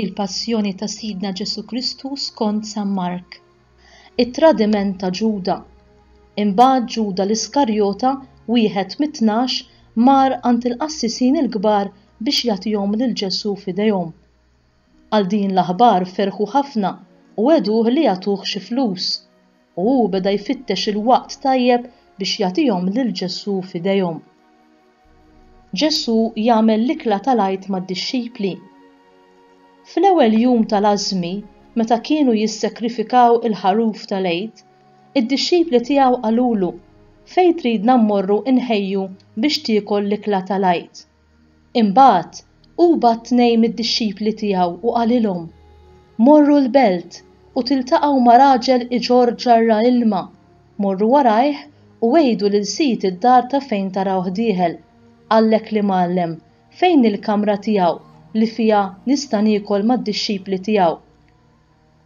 Il-Passjoni ta' Sidna Ġesù Kristu skont San Mark. It-tradiment ta' Ġuda. Imbagħad Ġuda l-Iskarjota, wieħed mit-tnax, mar għand il-qassisin il-kbar biex jagħtihom lil Ġesù f'idejhom. Għal din l-aħbar ferħu ħafna u għeduh li jagħtuh xi flus. u hu beda jfittex il-waqt tajjeb biex jagħtihom lil Ġesù f'idejhom. Ġesù jagħmel l-ikla tal-Għid mad-dixxipli. Fl-ewwel jum tal-Għażżmi, meta kienu jissekrifikaw il-ħaruf tal-Għid, id-dixxipli tiegħu qalulu, Fejn tridna mmorru nħejju biex tiekol l-ikla tal-Għid? Imbagħad hu bagħat tnejn mid-dixxipli tiegħu u qalilhom, Morru l-belt u tiltaqgħu ma' raġel iġorr ġarra ilma, morru warajh u għidu lil sid id-dar ta' fejn tarawh dieħel, Għallek li mgħallem, fejn hi l-kamra tiegħu li fiha nista' niekol mad-dixxipli tiegħu?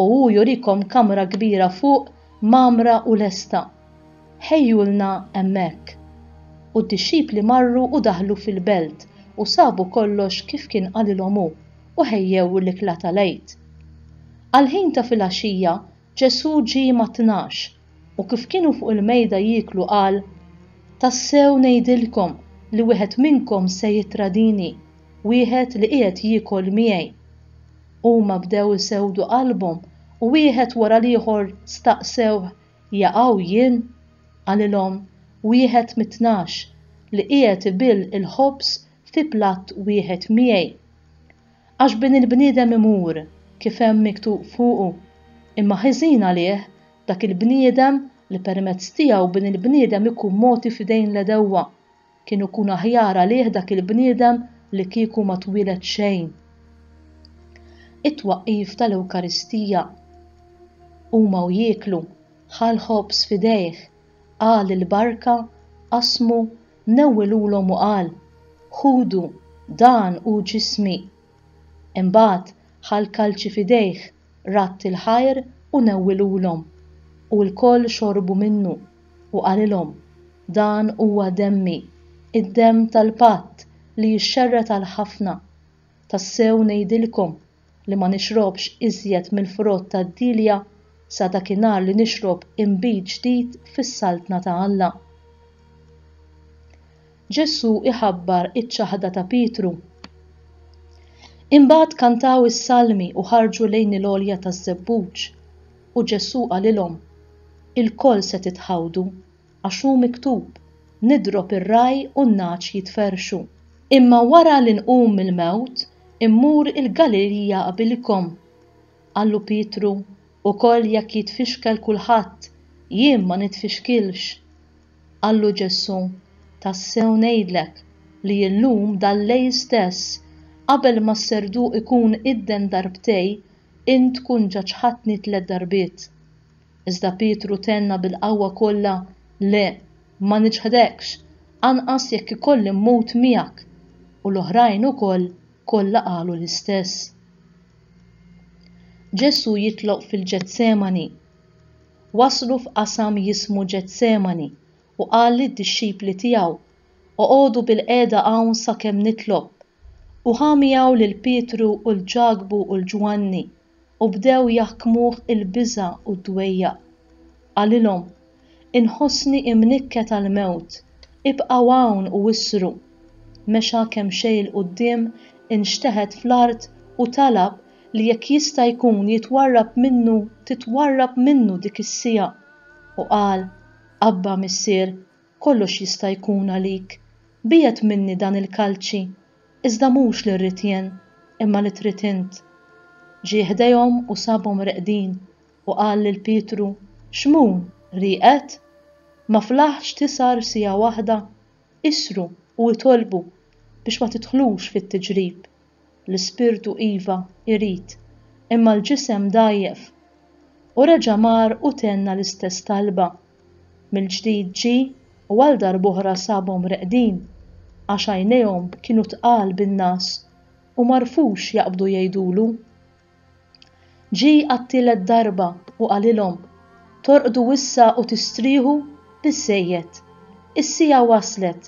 u hu jurikom kamra kbira fuq mgħammra u lesta. Ħejjulna hemmhekk. U d-dixxipli marru u daħlu fil-belt u sabu kollox kif kien qalilhom hu, u ħejjew l-ikla tal-Għid. Għall-ħin ta' filgħaxija Ġesù ġie mat-tnax, u kif kienu fuq il-mejda jieklu qal, Tassew ngħidilkom li wieħed minnkom se jittradini, wieħed li qiegħed jiekol miegħi. Huma bdew isewwdu qalbhom u wieħed wara l-ieħor staqsewh, Jaqaw jien? Qalilhom, Wieħed mit-tnax, li qiegħed ibill il-ħobż fi platt wieħed miegħi. Għax Bin il-bniedem imur, kif hemm miktub fuqu, imma ħiżin għalih dak il-bniedem li permezz tiegħu Bin il-bniedem ikun mogħti f'idejn l-għedewwa. Kien ikun aħjar għalih dak il-bniedem li kieku ma twieled xejn. It-twaqqif tal-Ewkaristija. Huma u jieklu, ħa l-ħobż f'idejh, qal il-barka, qasmu, newwilulhom u qal, Ħudu, dan hu ġismi. Imbagħad ħa l-kalċi f'idejh radd il-ħajr u newwilulhom, u lkoll xorbu minnu, u qalilhom, Dan huwa demmi, id-demm tal-patt li jixxerred għal ħafna. Tassew ngħidilkom li ma nixrobx iżjed mill-frott tad-dielja sa dakinhar li nixrob inbid ġdid fis-Saltna ta' Alla. Ġesù iħabbar iċ-ċaħda ta' Pietru. Imbagħad kantaw is-salmi u ħarġu lejn il-għolja taż-żebbuġ, u Ġesù qalilhom, Ilkoll se titħawdu, għax hu miktub, 'Nidrob ir-ragħaj u n-nagħaġ jitferrxu. Imma wara li nqum mill-mewt, immur il-Galilija qabilkom. Qallu Pietru, Ukoll jekk jitfixkel kulħadd, jien ma nitfixkilx. Qallu Ġesù, Tassew ngħidlek li illum dal-lejl stess, qabel ma s-serduq ikun idden darbtej, int tkun ġa ċħadtni tliet darbiet. Iżda Pietru tenna bil-qawwa kollha, Le, ma niċħdekx, anqas jekk ikolli mmut miegħek! U l-oħrajn ukoll kollha qalu l-istess. Ġesù jitloq fil-Ġetsemani. waslu f'qasam jismu Ġetsemani u qal lid-dixxipli tiegħu, Oqogħdu bilqiegħda hawn sakemm nitlob. U ħa miegħu lil Pietru u 'l Ġakbu u 'l Ġwanni, u bdew jaħkmuh il-biża' u d-dwejjaq. Qalilhom, Inħossni imnikket għall-mewt, ibqgħu hawn u issru. Mexa kemxejn 'l quddiem, inxteħet fl-art u talab li jekk jista' jkun jitwarrab minnu titwarrab minnu dik is-siegħa, u qal, Abba, Missier, kollox jista' jkun għalik, biegħed minni dan il-kalċi, iżda mhux li rrid jien, imma li trid int. Ġie ħdejhom u sabhom reqdin, u qal lil Pietru, Xmun, rieqed? Ma flaħx tisgħar siegħa waħda? Isru u itolbu biex ma tidħlux fit-tiġrib. l-ispirtu iva, irid, imma l-ġisem dgħajjef. U reġa' mar u tenna l-istess talba. Mill-ġdid ġie u għal darb'oħra sabhom reqdin, għax għajnejhom kienu tqal bin-ngħas u m'għarfux jaqbdu jgħidulu. Ġie għat-tielet darba u qalilhom, Torqdu issa u tistrieħu? Biżżejjed! Is-siegħa waslet!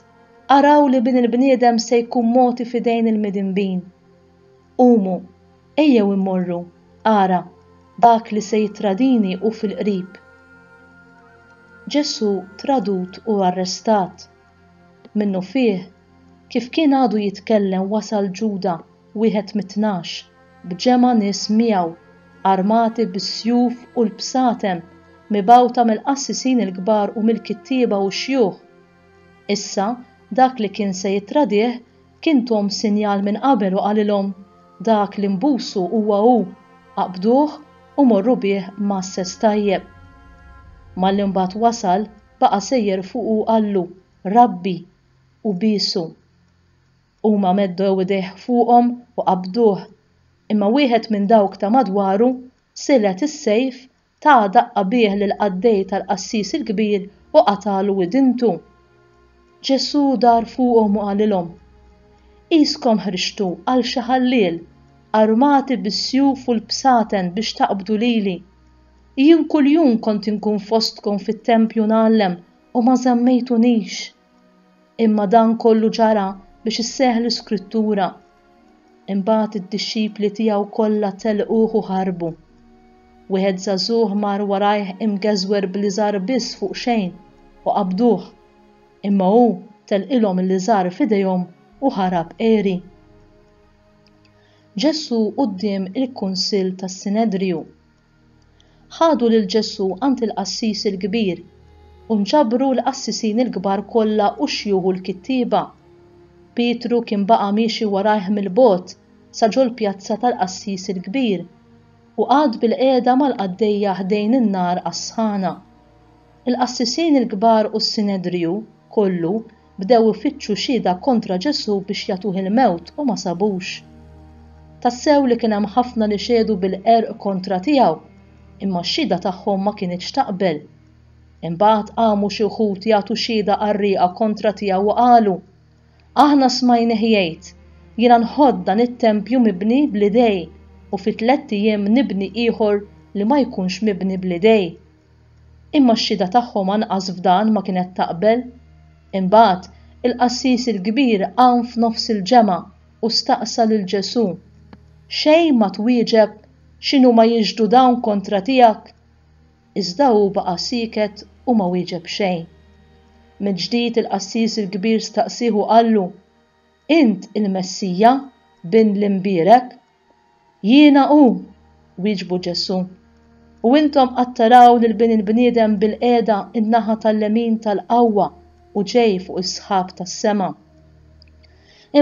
Araw li Bin il-bniedem se jkun mogħti f'idejn il-midinbin. Qumu, ejjew immorru, ara, dak li se jittradini hu fil-qrib. Ġesù tradut u arrestat. Minnufih Kif kien għadu jitkellem wasal Ġuda, wieħed mit-Tnax, b'ġemgħa nies miegħu, armati bis-sjuf u l-bsatem, mibgħuta mill-qassisin il-kbar u mill-kittieba u x-xjuħ. Issa, dak li kien se jittradih kien tuhom sinjal minn qabel u qalilhom, Dak li nbusu huwa hu, aqbduh u morru bih mgħasses tajjeb. Malli mbagħad wasal, baqa' sejjer fuqu u qallu, Rabbi! u biesu. Huma meddew idejh fuqhom u qabduh, imma wieħed minn dawk ta' madwaru silgħet is-sejf, ta daqqa bih lill-qaddej tal-qassis il-kbir u qatagħlu widintu. Ġesù dar fuqhom u qalilhom, Qiskom ħriġtu għal xi ħalliel, armati bis-sjuf u l-bsaten biex taqbdu lili. Jien kuljum kont inkun fostkom fit-tempju ngħallem u ma żammejtunix. Imma dan kollu ġara biex isseħħ l-Iskrittura, Imbagħad id-dixxipli tiegħu kollha telquh u ħarbu. Wieħed żagħżugħ mar warajh imgeżwer bl-iżgħar biss fuq xejn u qabduh, imma hu telqilhom l-iżgħar f'idejhom u ħarab għeri. Ġesù quddiem il-Kunsill tas-Sinedriju. Ħadu lil Ġesù għand il-qassis il-kbir, u nġabru l-qassisin il-kbar kollha u x-xjuħ u l-kittieba. Pietru kien baqa' miexi warajh mill-bogħod sa ġol-pjazza tal-qassis il-kbir, u qagħad bilqiegħda mal-qaddejja ħdejn in-nar għas-sħana. Il-qassisin il-kbar u s-Sinedriju kollu Bdew ifittxu xhieda kontra Ġesù biex jagħtuh il-mewt u ma sabux. Tassew li kien hemm ħafna li xehdu bil-qerq kontra tiegħu, imma x-xhieda tagħhom ma kinitx taqbel. Imbagħad qamu xi wħud jagħtu xhieda qarrieqa kontra tiegħu u qalu, Aħna smajnih jgħid, 'Jiena nħodd dan it-tempju mibni bl-idej, u fi tlett ijiem nibni ieħor li ma jkunx mibni bl-idej. Imma x-xhieda tagħhom anqas f'dan ma kienet taqbel. Imbagħad, il-qassis il-kbir qam f'nofs il-ġemgħa u staqsa lil Ġesù, Xejn ma twieġeb x'inhuma jixhdu dawn kontra tiegħek? Iżda hu baqa' sieket u ma wieġeb xejn. Mill-ġdid il-qassis il-kbir staqsieh u qallu, Int il-Messija, Bin l-Imbierek? Jiena hu, wieġbu Ġesù, u intom qed taraw lill-Bin il-bniedem bilqiegħda n-naħa tal-lemin tal-qawwa u ġej fuq is-sħab tas-sema.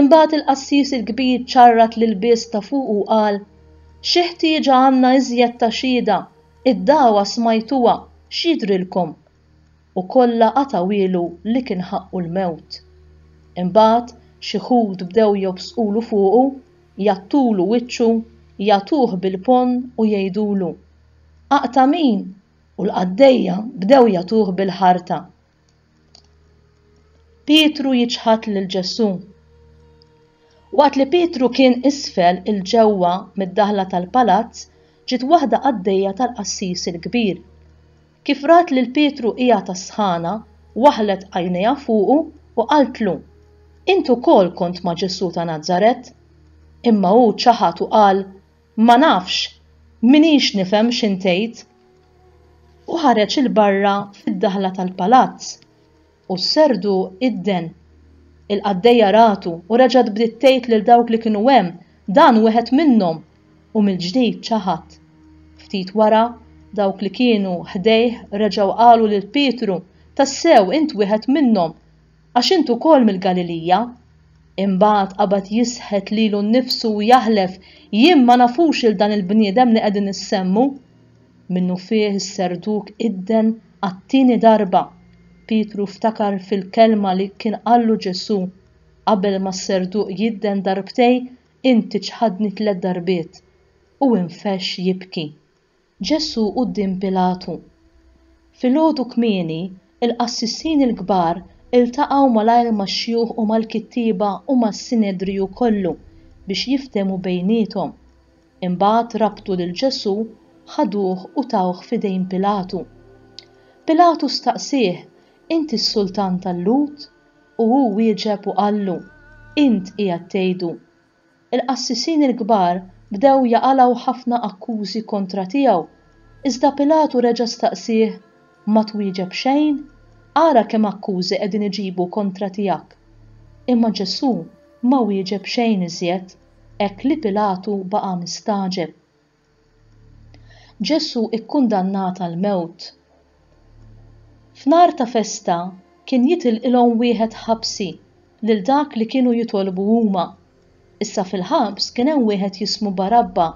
Imbagħad il-qassis il-kbir ċarrat l-ilbies ta' fuqu u qal, Xi ħtieġa għandna iżjed ta' xhieda, id-dagħwa smajtuha, x'jidhrilkom? u kollha qatgħuhielu li kien ħaqqu l-mewt. Imbagħad xi Lhud bdew jobżqulu fuqu, jgħattulu wiċċu, jagħtuh bil-ponn u jgħidulu, Aqta' min? U l-qaddejja bdew jagħtuh bil-ħarta. Pietru jiċħad lil Ġesù. Waqt li Pietru kien isfel il ġewwa mid-daħla tal-palazz, ġiet waħda qaddejja tal-qassis il-kbir. Kif rat lil Pietru qiegħed għas-sħana, waħħlet għajnejha fuqu u qaltlu, Int ukoll kont ma' Ġesù ta' Nazaret. Imma hu ċaħad u qal, Ma nafx, m'iniex nifhem x'int tgħid. U ħareġ 'il barra fid-daħla tal-palazz. U s-serdu idden. Il-qaddejja ratu u reġgħet bdiet tgħid lil dawk li kienu hemm, Dan wieħed minnhom! U mill-ġdid ċaħad. Ftit wara, dawk li kienu ħdejh reġgħu qalu lil Pietru, Tassew, int wieħed minnhom, għax int ukoll mill-Galilija. Imbagħad qabad jisħet lilu nnifsu u jaħlef, Jien ma nafux lil dan il-bniedem li qegħdin issemmu. Minnufih is-Serduk idden għat-tieni darba. Pietru ftakar fil-kelma li kien qallu Ġesù, Qabel ma s-Serduk jidden darbtejn, inti ċħadni tliet darbiet. U infexx jibki. Ġesù quddiem Pilatu. Filgħodu kmieni, il-qassisin il-kbar iltaqgħu malajr max-xjuħ u mal-kittieba u mas-Sinedriju kollu biex jiftehmu bejniethom. Imbagħad rabtu lil Ġesù, ħaduh u tawh f'idejn Pilatu. Pilatu staqsieh, Inti s-sultan tal-Lhud? U hu wieġeb u qallu, Int qiegħed tgħidu. Il-qassisin il-kbar bdew jaqalgħu ħafna akkużi kontra tiegħu, iżda Pilatu reġa' staqsieh, Ma twieġeb xejn? Ara kemm akkużi qegħdin iġibu kontra tiegħek! Imma Ġesù ma wieġeb xejn iżjed. hekk li Pilatu baqa' mistagħġeb. Ġesù kkundannat għall-mewt. F'nhar ta' festa kien jitilqilhom wieħed ħabsi lil dak li kienu jitolbu huma. Issa fil-ħabs kien hemm wieħed jismu Barabba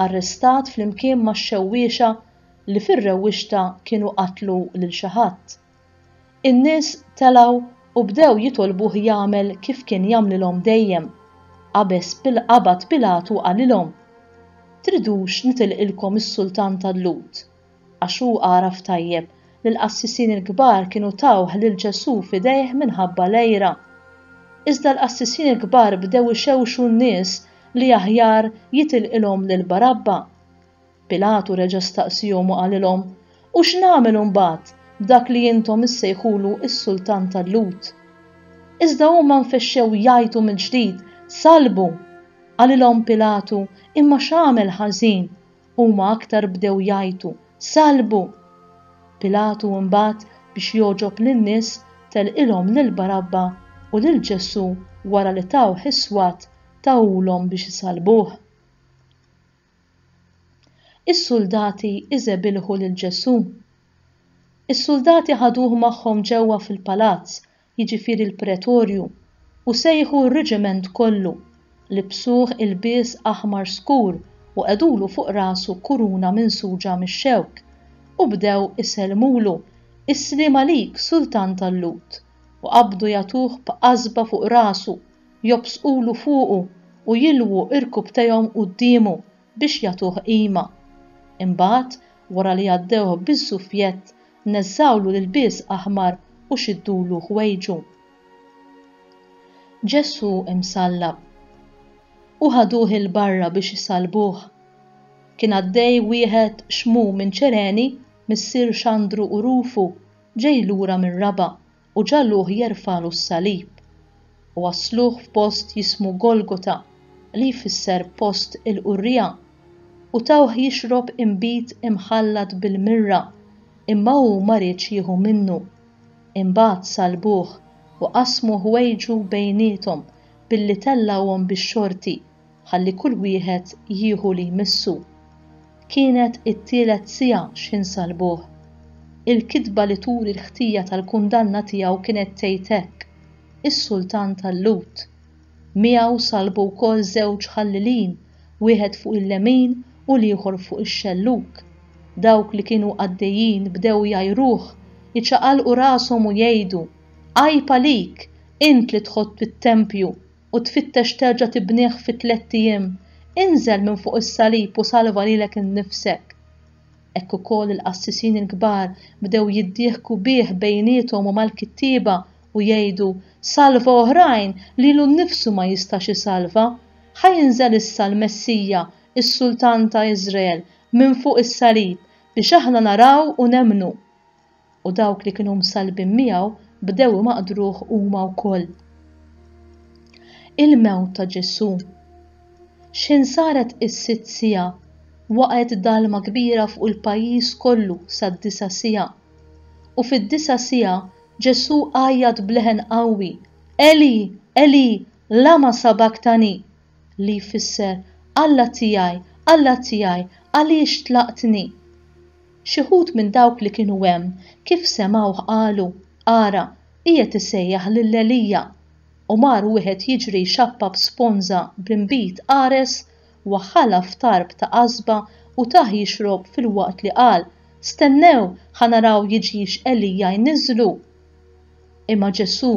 arrestat flimkien max-xewwiexa li fir-rewwixta kienu qatlu lil xi ħadd. In-nies telgħu u bdew jitolbuh jagħmel kif kien jagħmlilhom dejjem. Qabeż qabad Pilatu qalilhom, Tridux nitilqilkom is-sultan tal-Lhud? Għax hu għaraf tajjeb li l-qassisin il-kbar kienu tawh lil Ġesù f'idejh minħabba l-għira. Iżda l-qassisin il-kbar bdew ixewxu n-nies li aħjar jitilqilhom lil Barabba. Pilatu reġa' staqsiehom u qalilhom, U x'nagħmel imbagħad b'dak li intom issejħulu s-sultan tal-Lhud? Iżda huma nfexxew jgħajtu mill-ġdid, Sallbu! Qalilhom Pilatu, Imma x'għamel ħażin? Huma aktar bdew jgħajtu, Sallbu! Pilatu imbagħad, biex jogħġob lin-nies, telqilhom lil Barabba u lil Ġesù wara li tawh is-swat tawhulhom biex isallbuh. Is-suldati iżebilħu lil Ġesù. Is-suldati ħaduh magħhom ġewwa fil-palazz, jiġifieri l-pretorju, u sejħu r-reġiment kollu, libsuh ilbies aħmar skur u qegħdulu fuq rasu kuruna minsuġa mix-xewk, u bdew isellmulu, Is-sliem għalik, Sultan tal-Lhud! u qabdu jagħtuh b'qasba fuq rasu, jobżqulu fuqu u jilwu rkubtejhom quddiemu biex jagħtuh qima. Imbagħad, wara li għaddewh biż-żufjett, neżżgħulu l-ilbies aħmar u xiddulu ħwejġu. Ġesù msallab. U ħaduh 'il barra biex isallbuh. Kien għaddej wieħed xmu minn Ċereni, missier Xandru u Rufu, ġej lura mir-raba', u ġagħluh jerfagħlu s-salib, u wassluh f'post jismu Golgota, li jfisser Post il-Qurrija, u tawh jixrob inbid imħallat bil-mirra, imma hu ma riedx jieħu minnu. Imbagħad salbuh u qasmu ħwejġu bejniethom billi tellgħuhom bix-xorti, ħalli kull wieħed jieħu li jmissu. Kienet it-tielet siegħa x'ħin salbuh. Il-kitba li turi l-ħtija tal-kundanna tiegħu kienet tgħid hekk, Is-Sultan tal-Lhud. Miegħu salbu wkoll żewġ ħallilin, wieħed fuq il-lemin u l-ieħor fuq ix-xellug. Dawk li kienu għaddejjin bdew jgħajruh, iċaqalqu rashom u jgħidu, Għajb għalik, int li tħott fit-tempju! u tfittex terġa' tibnih fi tlett ijiem, inżel minn fuq is-salib u salva lilek innifsek. Hekk ukoll il-qassisin il-kbar bdew jiddieħku bih bejniethom u mal-kittieba u jgħidu, Salva oħrajn lilu nnifsu ma jistax isalva! Ħa jinżel issa l-Messija, is-Sultan ta' Iżrael, minn fuq is-salib biex aħna naraw u nemmnu. u dawk li kienu msallbin miegħu bdew imaqdruh huma wkoll. Il-mewt ta' Ġesù. X'ħin saret is-sitt siegħa, waqgħet dalma kbira fuq il-pajjiż kollu sad-disa' siegħa. U fid-disa' siegħa Ġesù għajjat b'leħen qawwi, Eli, Eli, lama sabactani? li jfisser Alla tiegħi, Alla tiegħi, għaliex tlaqtni? Xi wħud minn dawk li kienu hemm, kif semgħuh qalu, Ara, qiegħed isejjaħ lil Elija! U mar wieħed jiġri jxappab sponża b'inbid qares, waħħalha f'tarb ta' għasba u tah jixrob filwaqt li qal, Stennew, ħa naraw jiġix Elija jniżżlu! Imma Ġesù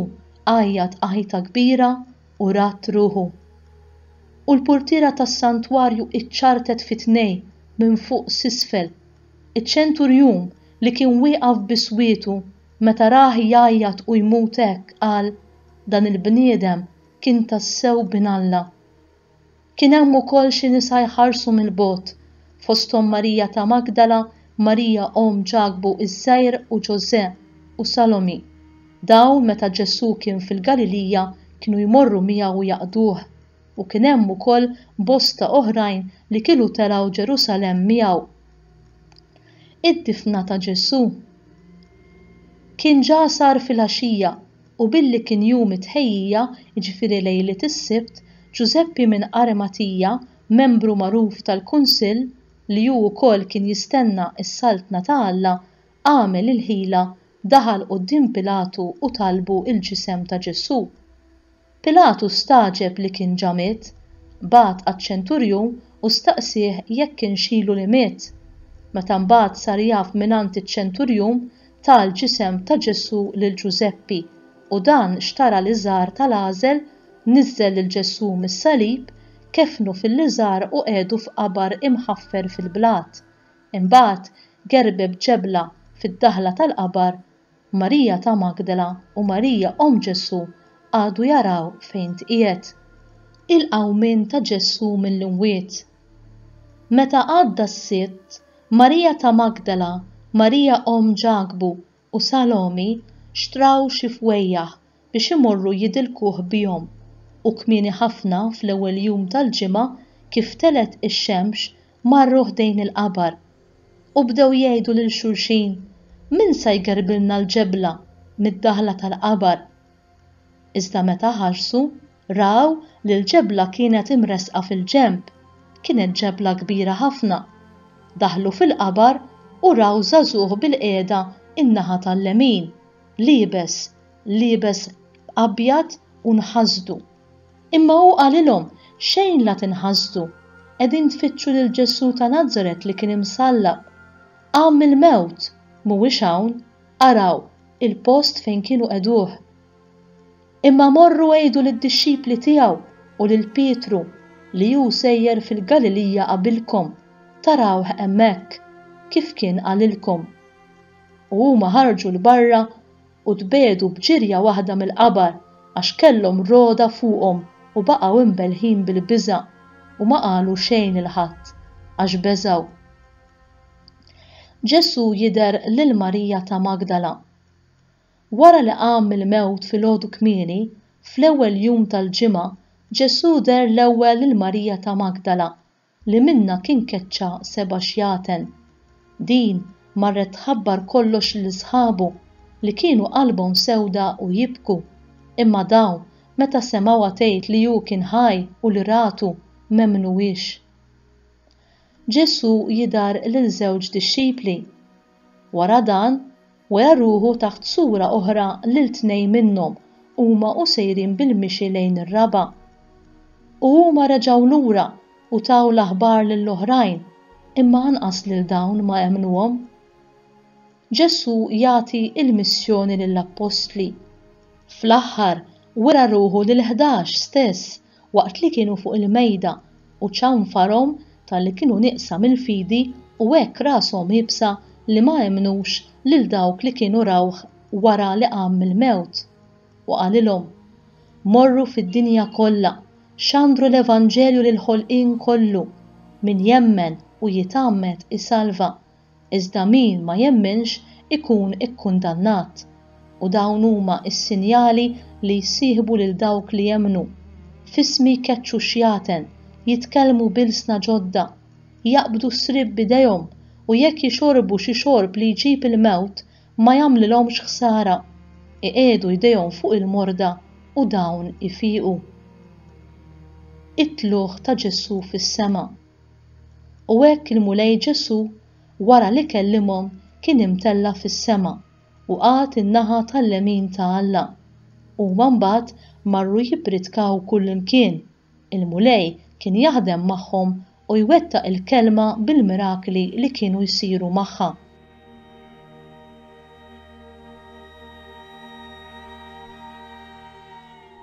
għajjat għajta kbira u rat ruħu. U l-purtiera tas-santwarju ċċartet fi tnejn minn fuq s'isfel. Iċ-ċenturjun, li kien wieqaf bi swietu, meta rah jgħajjat u jmut hekk, qal, Dan il-bniedem kien tassew bin Alla. Kien hemm ukoll xi nisa jħarsu mill-bogħod, fosthom Marija ta' Magdala, Marija omm Ġakbu iż-Żgħir u Ġożè, u Salomì. Dawn meta Ġesù kien fil-Galilija kienu jmorru miegħu jaqduh, u kien hemm ukoll bosta oħrajn li kielu telgħu Ġerusalemm miegħu. Id-difna ta' Ġesù. Kien ġa sar filgħaxija. U billi kien jum it-Tħejjija, jiġifieri lejliet is-Sibt, Ġużeppi minn Arimatija, membru magħruf tal-Kunsill, li hu wkoll kien jistenna s-Saltna ta' Alla, għamel il-ħila, daħal quddiem Pilatu u talbu l-ġisem ta' Ġesù. Pilatu stagħġeb li kien ġa miet, bagħat għaċ-ċenturjun u staqsieh jekk kienx ilu li miet. Meta mbagħad sar jaf mingħand iċ-ċenturjun ta l-ġisem ta' Ġesù lil Ġużeppi u dan xtara l-iżgħar ta' l-għażel, niżżel lil Ġesù mis-salib, keffnu fil-liżgħar u qegħdu f'qabar imħaffer fil-blat. Imbagħad gerbeb ġebla fid-daħla tal-qabar, Marija ta' Magdala u Marija omm Ġesù qagħdu jaraw fejn tqiegħed. Il-qawmien ta' Ġesù mill-imwiet. Meta għadda s-Sitt, Marija ta' Magdala, Marija omm Ġakbu, u Salomi xtraw xi fwejjaħ biex imorru jidilkuh bihom, u kmieni ħafna fl-ewwel jum tal-ġimgħa kif telgħet ix-xemx marru ħdejn il-qabar. U bdew jgħidu lil xulxin, Min sa jgerbilna l-ġebla mid-daħla tal-qabar? Iżda meta ħarsu, Raw li l-ġebla kienet imressqa fil-ġenb. Kienet ġebla kbira ħafna. Daħlu fil-qabar u raw żagħżugħ bilqiegħda n-naħa tal-lemin, liebes, liebes abjad u nħasdu. Imma hu qalilhom, Xejn la tinħasdu. Qegħdin tfittxu lil Ġesù ta' Nazaret li kien imsallab. Qam mill-mewt! Mhuwiex hawn. Araw, il-post fejn kienu qegħduh. Imma morru għidu lid-dixxipli tiegħu u lil Pietru li hu sejjer fil-Galilija qabilkom, tarawh hemmhekk, kif kien qalilkom. U huma ħarġu 'l barra u tbiegħdu b'ġirja waħda mill-qabar għax kellhom rogħda fuqhom u baqgħu imbelħin bil-biża' u ma qalu xejn 'il ħadd, għax beżgħu. Ġesù jidher lil Marija ta' Magdala. Wara li qam mill-mewt filgħodu kmieni, fl-ewwel jum tal-ġimgħa, Ġesù deher l-ewwel lil Marija ta' Magdala, li minnha kien keċċa seba' xjaten. Din marret tħabbar kollox lil sħabu, li kienu qalbhom sewda u jibku. Imma dawn, meta semgħuha tgħid li hu kien ħaj u li ratu, m'emmnuhiex. Ġesù jidher lil żewġ dixxipli. Wara dan, wera ruħu taħt sura oħra lil tnejn minnhom huma u sejrin bil-mixi lejn ir-raba'. U huma reġgħu lura u taw l-aħbar lill-oħrajn, imma anqas lil dawn ma emmnuhom. Ġesù jagħti l-missjoni lill-appostli. Fl-aħħar, wera ruħu lill-ħdax stess waqt li kienu fuq il-mejda u ċanfarhom talli kienu nieqsa mill-fidi u hekk rashom iebsa li ma emmnux lil dawk li kienu rawh wara li qam mill-mewt. U qalilhom, Morru fid-dinja kollha, xandru l-evanġelju lill-ħolqien kollu, min jemmen u jitgħammed isalva, iżda min ma jemminx ikun ikkundannat. U dawn huma s-sinjali li jsieħbu lil dawk li jemmnu, F'ismi jkeċċu xjaten, jitkellmu b'ilsna ġodda, jaqbdu s-sriep b'idejhom, u jekk jixorbu xi xorb li jġib il-mewt, ma jagħmlilhomx ħsara. Iqiegħdu jdejhom fuq il-morda u dawn ifiqu. It-tlugħ ta' Ġesù fis-sema. U hekk il-Mulej Ġesù, wara li kellimhom, kien imtella' fis-sema u qagħad in-naħa tal-lemin ta' Alla. Huma mbagħad marru jippritkaw kullimkien. Il-Mulej kien jaħdem magħhom u jwettaq il-kelma bil-mirakli li kienu jsiru magħha.